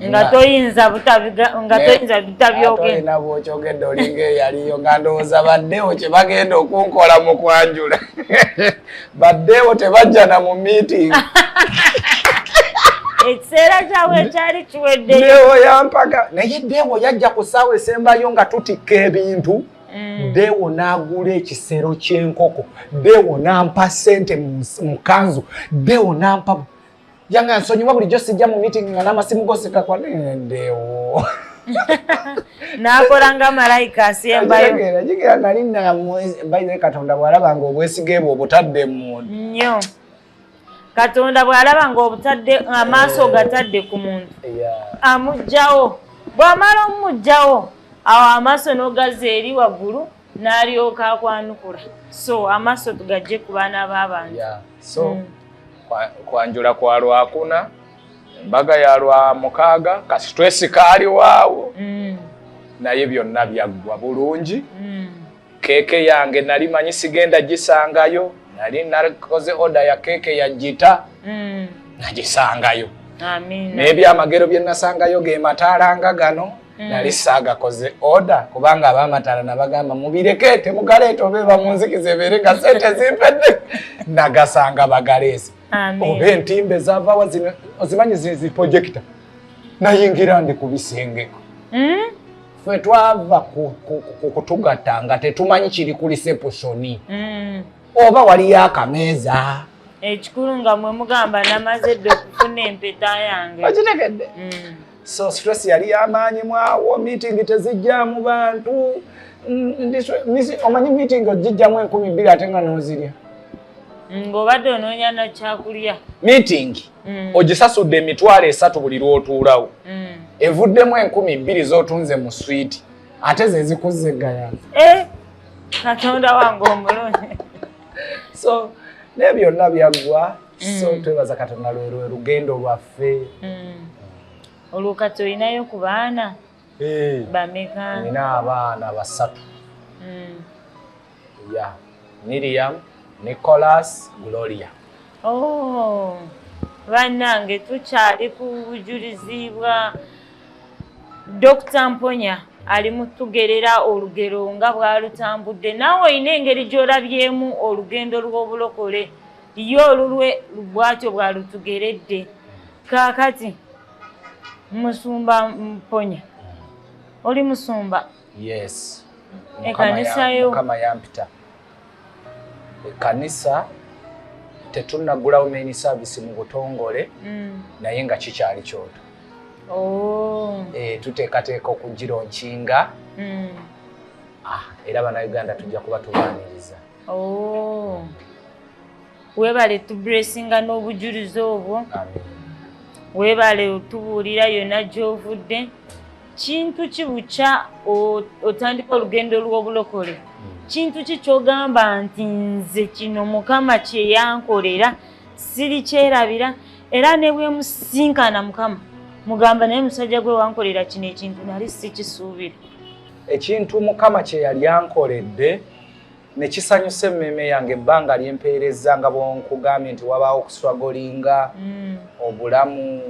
nga toyinza butabyogenda bwokyogedde olinga eyaliyo nga ndowooza baddewo kyebagenda okunkola mu kwanjula baddewo tebajja na mu meeting ekiseera kyabwe ekyali kiweddeyo yampaka naye dewo yajja ku ssaawa esembayo nga tutikka ebintu Mm. dewo n'agula ekisero ky'enkoko dewo n'ampa ssente mu kanzu dewo n'ampa yanga nsonyiwa bulijjo sijja mu meeting nga n'amasimu goseka kwanedewo nakola nga malayika asembayo jigera nali nabaire katonda bwalaba nga obwesige bwe obutadde mu nnyo katonda bwalaba nga obutadde amaaso eh. gatadde ku muntu amugjawo bwamala omumugjawo awo amaaso nogaza eri waggulu n'alyoka akwanukula so amaaso tugajje ku baana b'abantu so hmm. kwanjula kwa lwakuna embaga ya lwa mukaaga kasitwesi kaaliwaawo hmm. naye byonna byaggwa bulungi hmm. keeke yange nali manyi sigenda gisangayo nali nakoze oda ya keeke ya jita nagisangayo n'ebyamagero bye nasangayo ge mataala nga gano Mm. nali saagakoze oda kubanga abamataala nabagamba mubireke temugaleeta oba eba munzikiza ebeere nga sente zimpedde nagasanga bagaleese oba entimba ezavawa ozimanyi ziprojekita nayingira ndi ku bisengeko mm? fe twava kutugatta nga tetumanyi kiri ku lisepusoni mm. oba waliyo akameeza ekikulu nga mwe mugamba namaze dde okufuna empeta yange okitegedde so stress yali yamaanyi mwawo meeting tezijjamu bantu omanyi meeting ogijjamu enkumi bbiri ate nga nozirya ng'obadde onoonya na kyakulya meeting mm. ogisasudde emitwalo esatu buli lw'otuulawo mm. evuddemu enkumi bbiri z'otunze mu swiiti ate ze zikuzza eggayana eh, katonda wange omulungi so naye byonna byaggwa so mm. twebaza katonda lwerwe lugendo lwaffe mm. olwo kati olinayo ku baana eh. bameka nina abaana basatu mm. ya miriam nicolas gloria oh. bannange tukyali ku bujulizi bwa dokita mponya ali mutugerera olugero nga bwalutambudde naawe olina engeri gy'olabyemu olugendo lw'obulokole Ye olulwe bwatyo bwalutugeredde. Kaakati musumba mponya oli musumba? Yes. Ekanisa yo? Mukama yampita ekanisa tetunnagulawo main service mu butongole mm. naye nga kikyali kyoto oh. eh, tuteekateeka okugira onkinga mm. ah, era banauganda tujja kuba tubaniriza Oh. webale tubulesinga n'obujulizi obwo webale otubuulira yonna gy'ovudde kintu ki bukya otandika olugendo lw'obulokole kintu ki kyogamba nti nze kino mukama kyeyankolera siri kyerabira era ne bwemusinkana mukama mugamba naye musajja gwe wankolera kino ekintu nali sikisuubira ekintu mukama kyeyali ankoledde ne kisanyusa emmeeme yange ebbanga lye mpeerezza nga bwonkugambye nti wabaawo okuswagolinga mm. obulamu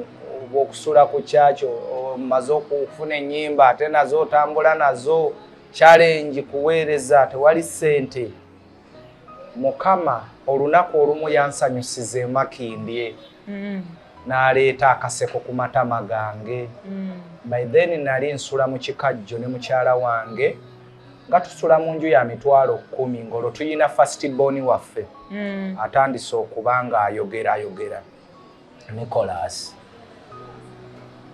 obw'okusula ku kyakyo omaze okufuna ennyimba ate nazo otambula nazo kyalengi kuweereza tewali ssente mukama olunaku olumu yansanyusiza emakindye mm. n'aleeta akaseko ku matama gange mm. by then nali nsula mu kikajjo ne mukyala wange nga tusula mu nju ya mitwalo kumi ng'olwo tulina fastiboni waffe mm. atandise okuba ng'ayogera ayogera nicolas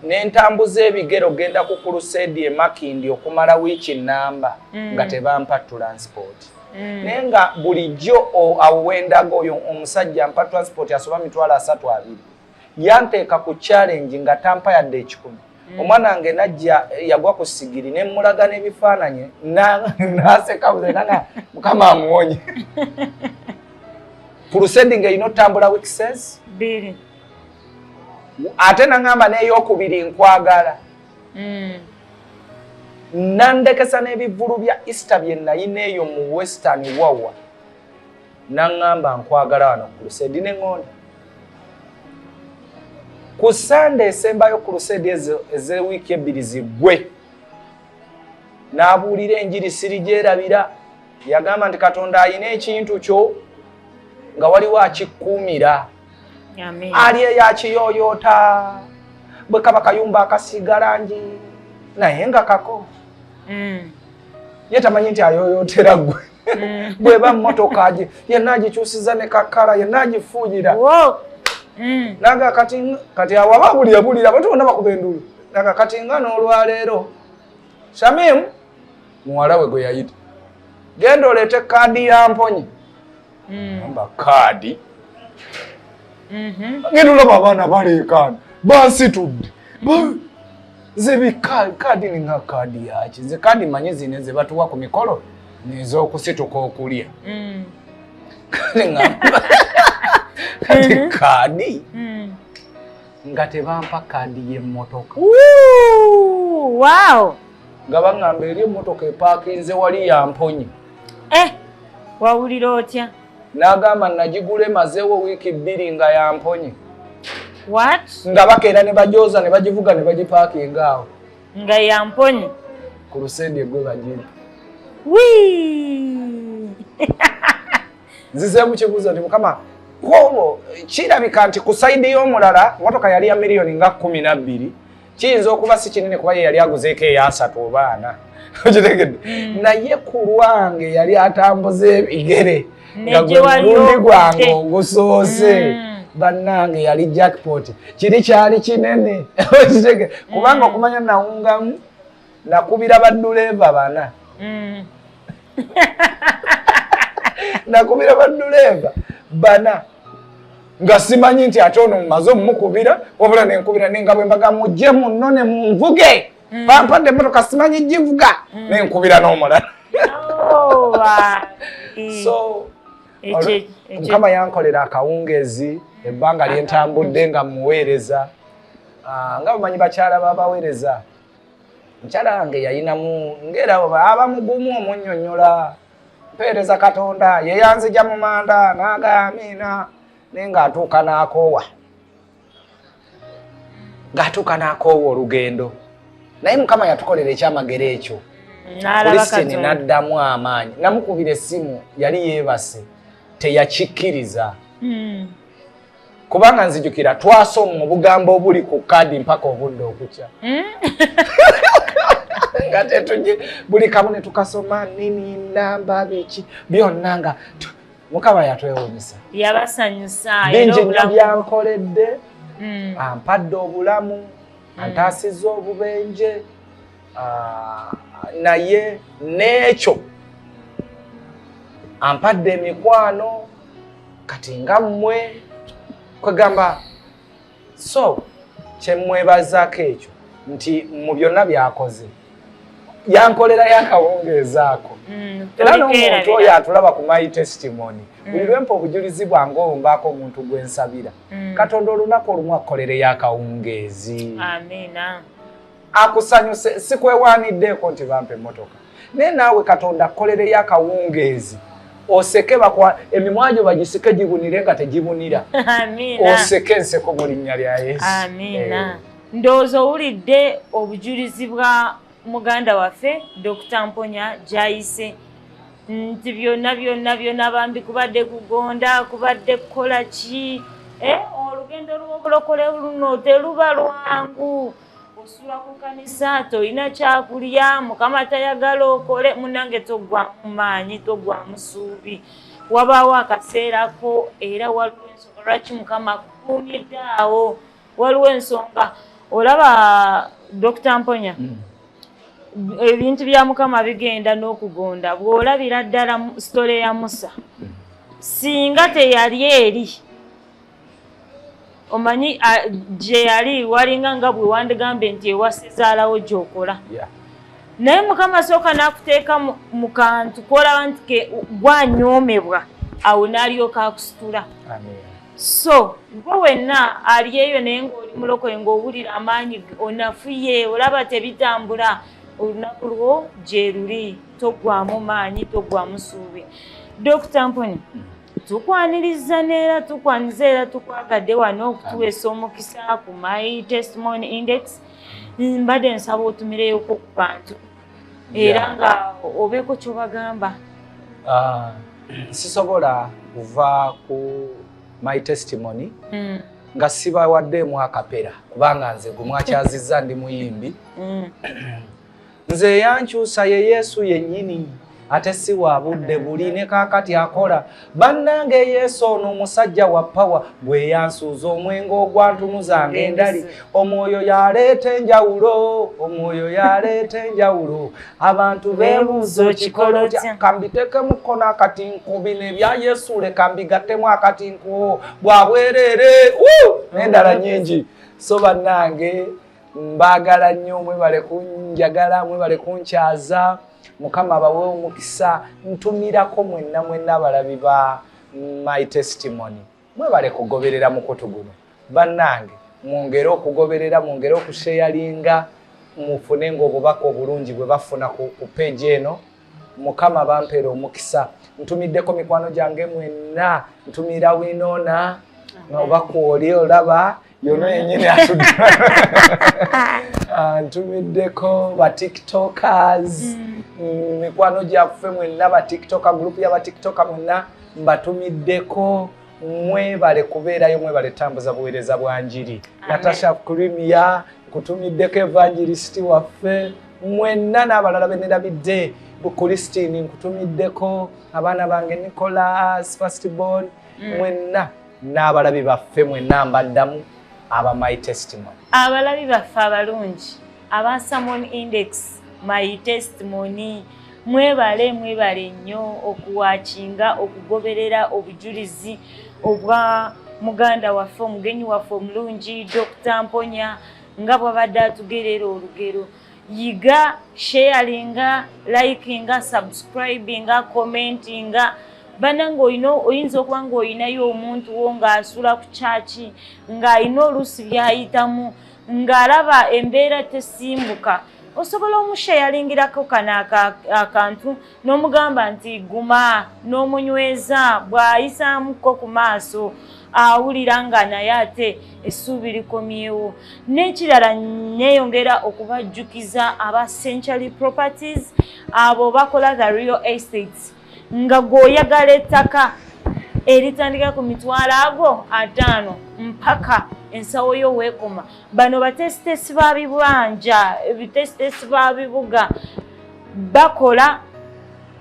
nentambuza ebigere ogenda ku kuluseedi emakindi okumala wiiki namba mm. nga tebampa transport mm. naye nga bulijjo awo wendaga oyo omusajja mpa transport asoba mitwalo asatu abiri yanteeka ku challenge nga tampa yadde ekikumi mm. omwana wange najja yagwa ku sigiri ne mmulaga n'ebifaananyi naseka buzenana mukama amuwonye pulusendi nga erina otambula wikisens biri ate naŋamba n'eyokubiri nkwagala mm. nandekesa n'ebivulu bya easter bye nayina eyo mu western wawa n'aŋŋamba nkwagala wano ku luseedi ne ŋŋonda ku ssande esembayo ku luseedi ezo ez'ewiiki ebbiri ziggwe n'abuulira enjiri siri gyerabira yagamba nti katonda alina ekintu kyo nga waliwo akikkuumira ali eyakiyoyoota bwe kaba kayumba akasiiga langi naye nga kako mm. ye tamanyi nti ayoyootera gwe mm. bweba mmotoka agi yenna agikyusiza ne kakkala yenna agifuuyira mm. naga kati kati awaba buli abulira abantu bonna bakuba endulu naga kati nga n'olwaleero shamimu muwala we gwe yayita genda oleete kaadi ya mponyi mm. kaadi mm-hmm. ngenda olaba abaana baleekaana bansitudde nze bikaadi ninga kaadi yaki nze kaadi manyi zine ze batuwa ku mikolo nez'okusituka okulya mm. kale nga kati mm-hmm. kaadi mm. nga tebampa kaadi y'emmotoka wow nga baŋŋamba eri emmotoka epaakinze wali yamponye eh wawulira otya n'agamba nagigula emazeewo wiiki bbiri nga yamponye nga bakeera ne bajooza ne bagivuga ne bagipaakinga awo nga yamponye ku lusendi egwe bagiri nzizeemu kibuuzo nti mukama kwolwo kirabika nti ku saidi y'omulala motoka yali ya miliyoni nga kumi nabbiri kiyinza okuba si kinene kuba ye yali aguzeeko eyasatu oba ana okitegedde mm. naye ku lwange yali atambuza ebigere nga gwe mulundi gwange ogusoose mm. bannange yali jackpot kiri kyali kinene kubanga okumanya nawungamu nakubira baduleeva bana mm. nakubira baduleeva bana nga simanyi nti ate ono mumaze omumukubira wabula nenkubira nenga bwembaga mujje munno ne munvuge mm. bampadde emotoka simanyi givuga mm. nenkubira n'omulala oh, so mukama yankolera akawungezi ebbanga lyentambudde nga muweereza ah, nga bumanyi bakyala babaweereza mukyala wange yayinamu ngera aba mugumu omunyonyola mpeereza katonda yeyanzija mu manda naaga amiina naye ngaatuuka n'akoowa ngaatuuka n'akoowa olugendo naye mukama yatukolera ekyamagero ekyo kulistini n'addamu amaanyi namukubira essimu yali yeebase teyakikkiriza hmm. kubanga nzijukira twasoma obugambo obuli ku kaadi mpaka obudde okukya hmm? nga tetuje buli kamu ne tukasoma nini namba biki byonna nga mukama yatwewunyisa yabasanyusaabingi nyo byankoledde hmm. ampadde obulamu hmm. antaasiza obubenje ah, naye n'ekyo ampadde emikwano kati nga mmwe kwegamba so kyemwebazaako ekyo nti mu byonna byakoze yankolera yakawungeeza ako mm, era n'omuntu oyo atulaba ku my testimony mm. buli lwempa obujulizi bwange olumbaako omuntu gwe nsabira mm. katonda olunaku olumu akukolere yakawungeezi amiina akusanyuse sikwewaniddeko nti bampa emmotoka naye naawe katonda akkolereyo akawungeezi oseke bakwa emimwa gyo bagisike gibunire nga tegibunira oseke enseko mu linnya lya yesu amiina eh. ndowooza owulidde obujulizi bwa muganda waffe dokita mponya gyayise nti byonna byonna byonna bambi kubadde kugonda kubadde kukola ki eh, olugendo lw'obulokole luno teluba lwangu osula ku kanisa tolina kyakulya mukama tayagala okole munange togwamu maanyi togwamu suubi wabaawo akaseerako era waliwo ensonga lwaki mukama akukuumidde awo waliwo ensonga olaba dokita mponya mm. ebintu bya mukama bigenda n'okugonda bw'olabira ddala sitole ya musa mm. singa teyali eri omanyi gye yali walinga nga bwe wandigambye nti ewasizaalawo gyokola naye mukama sooka n'akuteeka mu kantu kolaba nti ke gwanyoomebwa awo n'alyoka akusitula so gwe wenna ali eyo naye ng'oli mulokoye ng'owulira amaanyi onafuye olaba tebitambula olunaku lwo gyeruli toggwamu maanyi toggwamu suubi dokita mponi tukwanirizza neera tukwaniza era tukwagadde wano okutuweesa omukisa ku my testimony index mbadde nsaba otumileyoko ku bantu era nga obeeko kyobagamba ah, sisobola kuva ku my testimony hmm. nga sibawaddeemu akapera kubanga nze gumwakyazizza ndi muyimbi hmm. nze eyankyusa ye yesu yennyini ate si wa budde buli ne kaakati akola bannange yesu ono omusajja wa pawa gwe yansuuza omwenge ogwantunuzanga endali omwoyo yaleeta enjawulo omwoyo yaleeta enjawulo abantu bebuuza ekikolo kambitekemu kkono akati nkubi nebya yesu leka mbigattemu akati nkuwo bwabwereere nendala nyingi so bannange mbaagala nnyo mwebale kunjagala mwebale kunkyaza mukama abawe omukisa ntumirako mwenna mwenna abalabi ba my testimony mwebale kugoberera mukutu guno bannange mwongere okugoberera mwongere okusheyalinga mufune ngaobubaka obulungi bwe bafuna ku peegi eno mukama bampeera omukisa ntumiddeko mikwano gyange mwenna ntumira winona oba kwoli olaba yono yenyini antumiddeko batiktokers mm. Mm, mikwano gyaffe mwenna batiktoka gurupu ya batiktoka mwenna mbatumiddeko mwebale kubeerayo mwebale tambuza buweereza bwa njiri natasha krimia nkutumiddeko evangelisiti waffe mwenna n'abalala benerabidde bukulistini nkutumiddeko abaana bange nicolas fastborn mm. mwenna n'abalabi baffe mwenna mbaddamu aba my testimony abalabi baffe abalungi aba samon index my testimony mwebale mwebale nnyo okuwakinga okugoberera obujulizi obwa muganda waffe omugenyi waffe omulungi dr mponya nga bwabadde atugerera olugero yiga sharinga likinga subscribinga commentinga banange olina oyinza okuba nga olinayo omuntu wo ngaasula ku kyaki ng'alina oluusi byayitamu ng'alaba embeera tesimbuka osobola omushayaringirako kano akantu n'omugamba nti guma n'omunyweza bw'ayisaamuko ku maaso awulira nga naye ate essuubi likomyewo n'ekirala neeyongera okubajjukiza aba century properties abo bakola the real estates nga gweoyagala ettaka eritandika ku mitwalo ago ataano mpaka ensawo yo weekoma bano batesitesi ba bibanja ebitesitesi ba bibuga bakola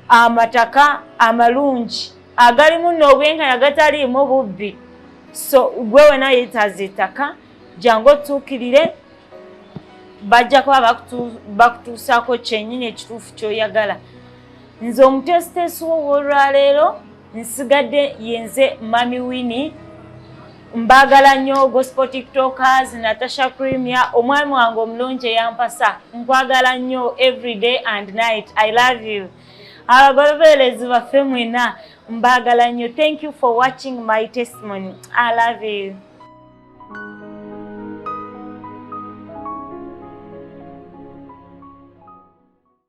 amataka amalungi agalimu n'obwenkanya gataliimu bubbi so gwe wena yetaaza ettaka jangu otuukirire bajja kuba bakutuusaako kyenyini ekituufu kyoyagala nze omuteesiteesi wo wolwaleero nsigadde yenze mami wini Mbagala nnyo gospel tiktokers Natasha Premier omwami wange omulungi eyampasa nkwagala nnyo everyday and night I love you abagolobeerezi baffe mwena mbagala nnyo thank you for watching my testimony I love you